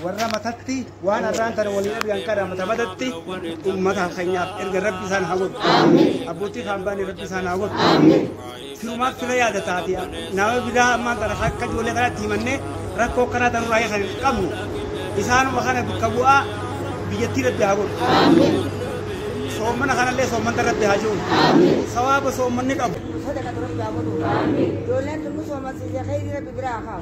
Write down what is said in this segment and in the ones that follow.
warra matatti waan arraan tana walii dhabiyan kana mata matatti ummata keenyaaf erga rabbi isaan haa godhu abbootii kaan baane rabbi isaan haa godhu firumaaf fira yaada taate nama biraa ammaan tana akka ijoollee kanatti himannee rakkoo kanaa tanurraa kan hin qabnu isaanuma kana bakka bu'aa biyyattii rabbi haa godhu soomana kanallee soomanta rabbi haa jiru sawaaba soomanni qabu Sadaqatu rabbi haa godhu. Ijoolleen tun nu soomansise kheyri rabbi biraa haa kaa'u.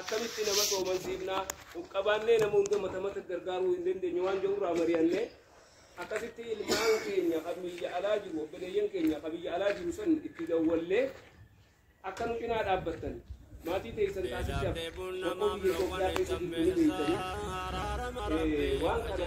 akkamitti nama soomansiifna of qabaannee nama hunda mata mata gargaaruu hin dandeenye waan jedhu irraa mari'anne akkasitti ilmaan keenya kan biyya alaa jiru obboleeyyan keenya kan biyya alaa jiru san itti dawwallee akka nu cinaa dhaabbattan maatii teessan taasishaaf tokko biyya Itoophiyaa keessatti itti ni beektanii waan kana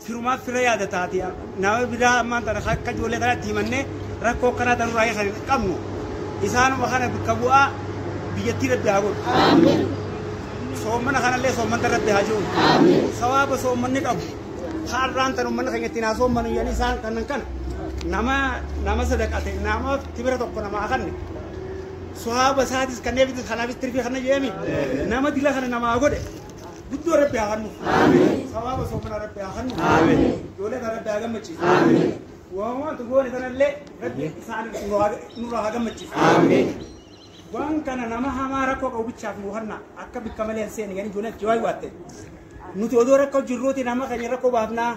Firumaa fira yaada taati nama biraa ammaan tana akka ijoollee kana itti himannee rakkoo akkanaa tanuu raayee kan hin qabnu isaanuma kana bakka bu'aa biyyattii rabbi haa godhu. Soommana kanallee soommanta rabbi haa jiru. Sawaaba soommanni qabu har'aan tan uummanni keenya ittiin haa soommanu jedhanii isaan kanan kana nama nama sadaqate nama tibira tokko namaa kanne sawaaba isaatis kanneefitis kanaafis tirfii kana jedhami nama dila kana namaa godhe. guddoo rabbi haa hannu sawaaba soofana rabbi haa hannu ijoollee kana rabbi haa gammachiisu waan wantu goone kanallee rabbi isaan nurraa haa gammachiisu waan kana nama hamaa rakkoo qabu bichaaf nu hanna akka bikka malee hin seeni gani ijoolleen achi waayii waatte nuti odoo rakkoo jirruuti nama keenya rakkoo baafnaa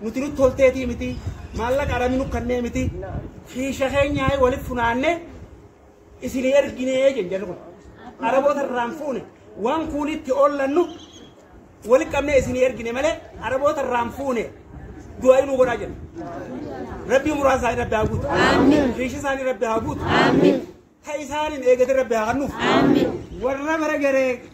nuti nutti tolteetii miti maallaqa arami nu kannee miti kiisha keenya walitti funaannee isinii erginee jedhu jarri kun araboota irraan fuune waan kuulitti oollannu wali qabnee isinii ergine malee araboota irraan fuune du'aa inuu godhaa jedhu rabbii muraasa isaanii rabbi haa guutu riishi isaanii rabbi haa guutu ta isaaniin eegate rabbi haa hannuuf warra bara garee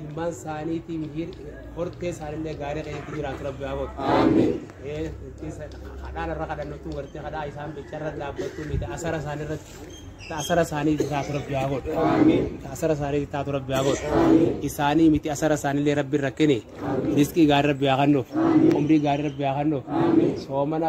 ilmaan isaaniitii mihiir hortee isaanillee gaarii keessatti jiraatu rabbi haa godhu. Kadhaan irra kadhannatu gartee kadhaa isaan bicha irra dhaabbattu miti asara isaanii irratti asara isaanii taatu rabbi haa godhu. Asara isaanii taatu rabbi haa godhu. Isaanii miti asara isaanillee rabbi irra kene. Riskii gaarii rabbi haa kennuuf. Umrii gaarii rabbi haa kennuuf. Soomana